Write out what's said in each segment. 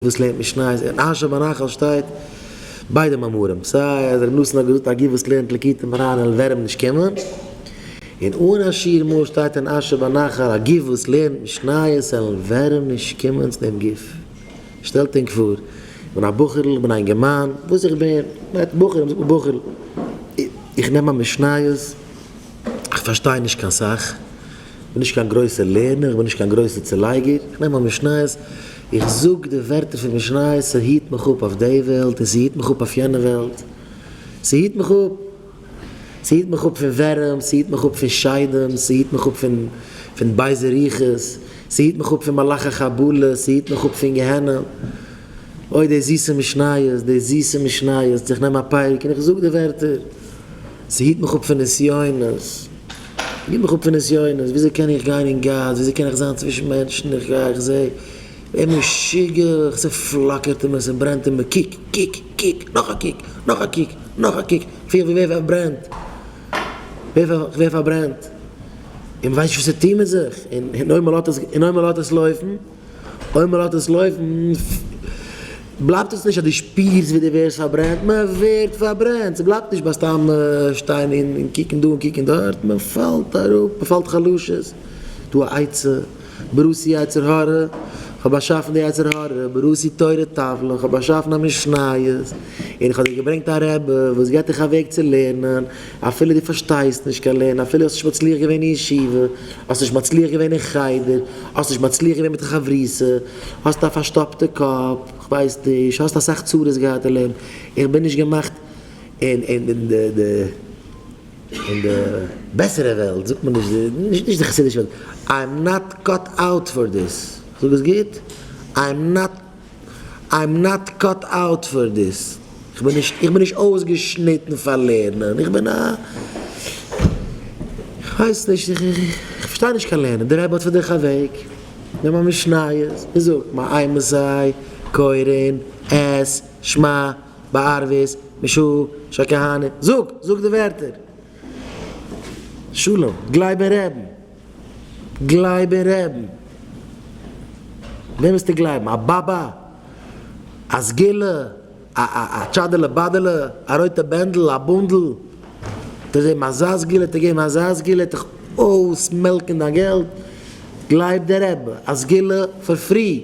וואס לערנט משניות? אין אשר בנחל שטייט ביידע מאמרים, סיי אז ר' נתן האט געזאגט א גוף וואס לערנט ליקוטי מוהרן און ווערעם נישט קומען, און אן אשיר מאל שטייט אין אשר בנחל א גוף וואס לערנט משניות און ווערעם נישט קומען צו דעם גוף. שטעלט ענק פאר, איך בין א בחור'ל, איך בין א אינגערמאן, וואס איך בין, מ'רעדט בחורים, זאגט מען בחור'ל, איך נעם א משניות, איך פארשטיי נישט קיין סאך, כ'בין נישט קיין גרויסער לערנער, כ'בין נישט קיין גרויסער צולייגער, כ'נעם א משניות, איך זאג די ווערטער פון משניות, ס'היט מיך אפ אויף די וועלט און ס'היט מיך אפ אויף יענע וועלט, ס'היט מיך אפ, ס'היט מיך אפ פון ווערים, ס'היט מיך אפ פון שדים, ס'היט מיך אפ פון בייזע רוחות, ס'היט מיך אפ פון מלאכי חבלה, ס'היט מיך אפ פון גיהנום, אוי די זיסע משניות, די זיסע משניות, איך נעם א פייק און איך זאג די ווערטער, ס'היט מיך אפ פון נסיונות. גיב מיך אפ פון נסיונות, וויאזוי קען איך גיין אין גאס, וויאזוי קען איך זיין צווישן מענטשן, איך גיי איך זעה דער משוגע, ס'פלאקערט אים און ס'ברענט אים און קוק, קוק, קוק, נאך א קוק, נאך א קוק, נאך א קוק, כ'פיל ווי ווער פארברענט, כ'ווער פארברענט, און מ'ווייסט נישט וואס צו טון מיט זיך, און אויב מ'לאזט עס, און אויב מ'לאזט עס לויפן. אויב מען לאזט עס לויפן בלייבט עס נישט אז דו שפירסט ווי דו ווערסט פארברענט, מען ווערט פארברענט, ס'בלייבט נישט ביי סתם שטיין און קוקן דא און קוקן דארט, מען פאלט אראפ, מען פאלט חלשות, דא א עצה, בראתי יצר הרע, כ'האב באשאפן די יצר הרע, בראתי תורה טבלה, כ'האב באשאפן א משניות, און איך האב דיר געברענגט א רבי וואס גיבט דיך א וועג צו לערנען, אפילו דו פארשטייסט נישט קיין לערנען, אפילו האסט נישט מצליח געווען אין ישיבה, האסט נישט מצליח געווען אין חדר, האסט נישט מצליח געווען מיט חברותא, האסט א פארשטאפטע קאפ, כ'ווייס נישט, האסט אסאך צרות געהאט אין לעבן, איך בין נישט געמאכט אין אין די בעסערע וועלט, זאגט מען נישט די, נישט די חסידישע וועלט, איי עם נאט קאט אוט פאר דיס, כ'זאג עס גוט? איי עם נאט. איים נאט קאט אוט פאר דיס, איך בין נישט איך בין נישט אויסגעשניטן פאר לערנען, איך בין א איך ווייס נישט איך פארשטיי נישט קיין לערנען, דער רבי האט פאר דיך א וועג, נעם א משניות, מען זאגט מאי מסי קורין את שמע בערבית משא כ כהנא, זאג זאג די ווערטער, שלום גלייב אין רעבן. גלייב אין רעבן! וועם וועסטו גלייבן? א באבע? א סגולה? א א א טשאדעלע באדעלע? א רויטע בענדל? א בונדל? וועט ער זעבן אזא סגולה? וועט ער געבן אזא סגולה? וועט דיך אויסמעלקן דיין געלט? גלייב די רעבע! א סגולה פאר פרי!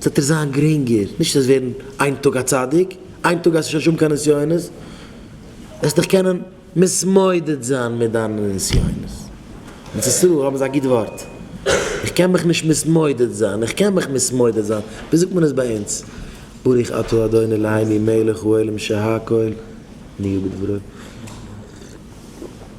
ס'וועט דיר זיין גרינגער, נישט וועסט ווערן איין טאג א צדיק, איין טאג הייסט נישט אז שוין קיין נסיונות, וועסט דיך קענען מתמודד זיין מיט דיינע נסיונות, אין ארץ ישראל האבן זיי א גוט ווארט, איך קען מיך נישט מתמודד זיין, איך קען מיך מתמודד זיין, ווי זאגט מען עס ביי אונז, ברוך אתה ה' אלהינו מלך העולם שהכל נהיה בדברו.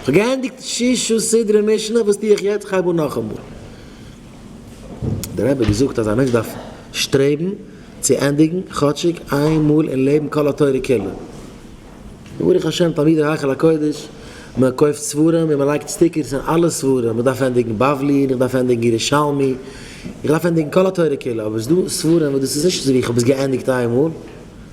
איך האב געענדיגט שישו סדרי משנה, וואס טו איך יעצט? כ'הייב אן נאכאמאל. דער רבי האט געזאגט אז א מענטש דארף שטרעבן צו ענדיגן כאטשיג איין מאל אין לעבן כל התורה כולה. ברוך השם תלמידי היכל הקודש, מען קויפט ספרים און מען לייגט סטיקערס אין אלע ספרים, איך דארף ענדיגן בבלי און איך דארף ענדיגן ירושלמי, איך דארף ענדיגן כל התורה כולה, אבער ס'דא ספרים וואס דאס איז נישט אזויווי איך האב עס געענדיגט איין מאל.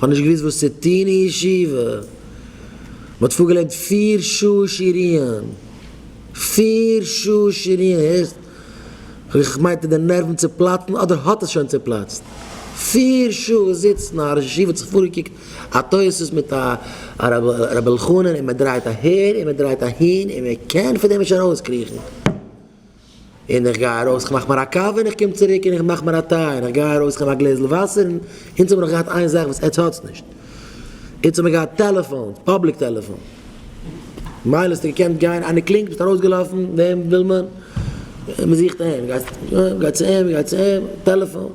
כ'האב נישט געוואוסט וואס צו טון אין ישיבה. מ'האט פארגעלערנט פיר שעה שיריען. פיר שעה שיריען, הערסט? איך מיינט די נערוון צופלאצן אדער האט עס שוין צופלאצט. פיר שעה זיצן, א ראש ישיבה האט זיך פארגעקוקט א תוס' מיט א רבי אלחנן און מ'דרייט אהער און מ'דרייט אהין און מ'קען פון דעם נישט ארויסקריכן. און איך גיי ארויס איך מאך מיר א קאווע און איך קום צוריק און איך מאך מיר א טיי און איך גיי ארויס איך נעם א גלעזל וואסער און אונז האב מיר נאך געהאט איין זאך וואס עטץ האטס נישט אונז האב מיר געהאט טעלעפאונס פאבליק טעלעפאון מילא האסטו געקענט גיין איינער קלינגט ביסט ארויסגעלאפן וועם וויל מען מען זוכט אים גייסט גיי צו אים גיי צו אים טעלעפאון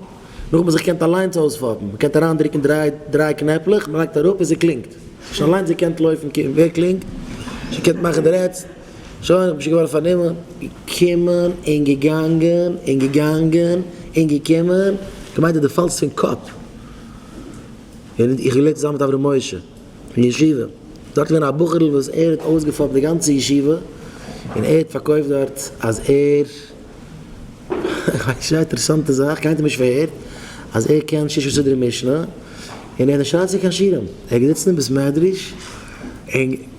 נאך וואס איך קענט אליינס אויספאפן מען קענט אריין דרוקן דריי דריי קנעפלעך מען לייגט אראפ און ס'קלינגט שוין אליינס געקענט לויפן קוקן ווער קלינגט שוין געקענט מאכן די רעדסט. שוין איך בין שוין געווארן פארנומען, געקומען און געגאנגען און געגאנגען און געקומען, כמיין דו פאלסט פון קאפ, ווען איך האב געלערנט צוזאמען מיט אברהם משה אין ישיבה, דארט איז געווען א בחור'ל וואס ער האט אויסגעפאפט די גאנצע ישיבה, און ער האט פארקויפט דארט אז ער, כ'ווייס נישט, א אינטערעסאנטע זאך, קיינער האט אים נישט פארהערט, אז ער קען ששה סדרי משנה, און ער האט נישט אריינגעצויגן קיין שירעם, ער האט געזיצן אין בית מדרש און.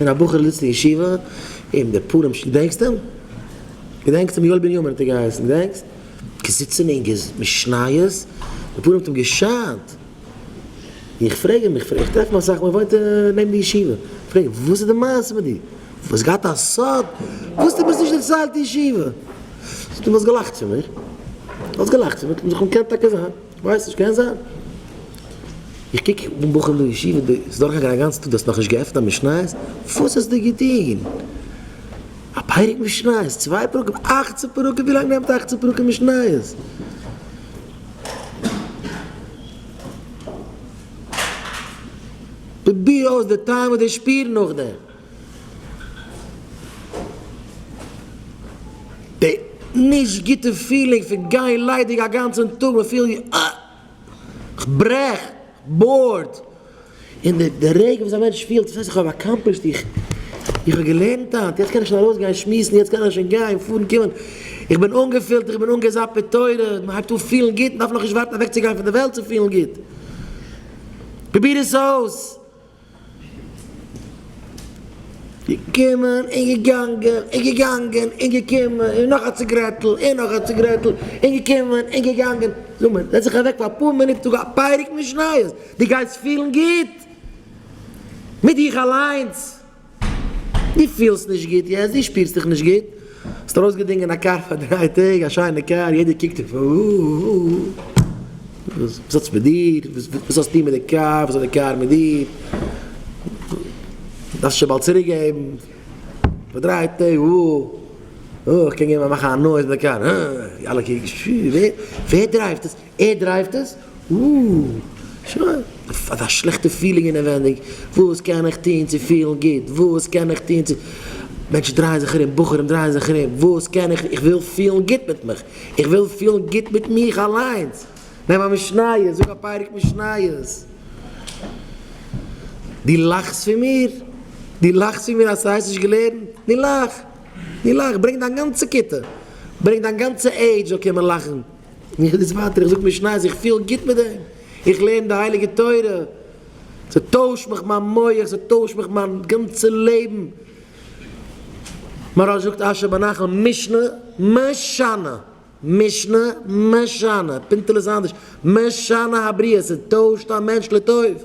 ווען א בחור זיצט אין ישיבה אום די פורים ש. געדענקסט אים? געדענקסט אים? יואל בנימין האט ער געהייסן, געדענקסט? געזיצן אין געז. משניות. די פנים האט אים געשיינט. איך פרעג אים, איך טרעף אים אסאך מאל, ער וואוינט נעבן די ישיבה. איך פרעג אים, וואס איז די מעשה מיט דיר? דו האסט געהאט א סוד וואס דו ביסט נישט אין צייט ישיבה? זאגט ער, דו האסט געלאכט פון מיר. דו האסט געלאכט פון מיר. קען טאקע זיין. כ'ווייס נישט, קען זיין. איך קוק דעם בחור אין דער ישיבה, דער איז דורכגעגאנגען א גאנצע טאג, דו האסט נאך נישט געעפנט א משניות? וואס האסטו געטון? א פרק משניות? צוויי פרקים? אכצן פרקים? ווי לאנג נעמט אכצן פרקים משניות? פרוביר אויס די טעם און די שפיר נאכדעם. די נישט גוטע פילינג פון גיין ליידיג א גאנצען טאג מען פילט ווי אה! כ'ברעך! כ'בארד! און די די רגע וואס א מענטש פילט וואס הייסט איך האב אקאמפלישט איך איך האב געלערנט היינט יעצט קען איך שוין ארויס גיין שמועסן יעצט קען איך שוין גיין פארן קומען איך בין אנגעפילט איך בין אנגעזאפט מיט תורה מען הייבט אן פילן גוט מען דארף נאך נישט ווארטן אוועק צו גיין פון די וועלט צו פילן גוט פרוביר עס אויס! געקומען און געגאנגען און געגאנגען און געקומען און נאך א ציגרעטל און נאך א ציגרעטל און געקומען און געגאנגען. זאג מיר, זעץ דיך אוועק פאר אפאר מינוט זאג א פרק משניות, דו גייסט פילן גוט מיט דיך אליינס. דו פילסט נישט גוט יעצט, דו שפירסט דיך נישט גוט, האסט ארויסגעדינגען א קאר פאר דריי טעג, א שיינע קאר, יעדער קוקט אויף וואס האטס מיט דיר, וואס האסטו מיט די קאר, וואס האט די קאר מיט דיר, דארפסט שוין באלד צוריק געבן, פאר דריי טעג, איך קען געבן א מאכן א נויז מיט די קאר, אלע קוקן, ווער דרייווט עס? ער דרייווט עס? אוּוּ. אזא שלעכטע פילינג אינעווענדיג, וואס קען איך טון צו פילן גוט? וואס קען איך טון צו. מענטשן דרייען זיך ארום, בחורים דרייען זיך ארום, וואס קען איך. איך וויל פילן גוט מיט מיך. איך וויל פילן גוט מיט מיך אליינס. נעם א משניות, זאג א פרק משניות. דו לאכסט פון מיר? דו לאכסט פון מיר אז ס'הייסט נישט געלערנט? נו לאך. נו לאך. ברענג דיין גאנצע כיתה. ברענג דיין גאנצע עידזש זאל קומען לאכן. איך גיי דאס ווייטער, איך זאג משניות, איך פיל גוט מיט דעם, איך לערן די הייליגע תורה, ס'טוישט מיך מיין מח, ס'טוישט מיך מיין גאנצע לעבן, מוהרא ש זאגט אשר בנחל משנה משנה, משנה משנה, פינטעלע איז אנדערש, משנה הבריאה, ס'טוישט א מענטש לטוב.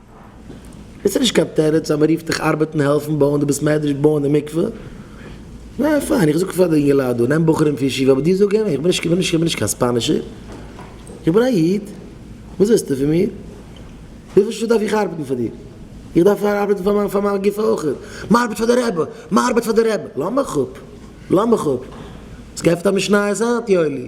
עס איז נישט קיין תירוץ אז מען רופט דיך ארבעטן העלפן בויען די בית מדרש בויען די מקווה, ניין פיין איך זאג פאר די אינגעלייט דא נעם בחורים פון ישיבה אבער דיר זאג איך איך בין נישט איך בין נישט קיין ספאנישער איך בין א איד וואס ווילסטו פון מיר וויפיל שעה דארף איך ארבעטן פאר דיר איך דארף ארבעטן פאר מיין פאר מיין גוף אויך מען ארבעט פאר די רבי מען ארבעט פאר די רבי לאמיך אפ לאמיך אפ האסט געעפנט א משניות היינט יואלי?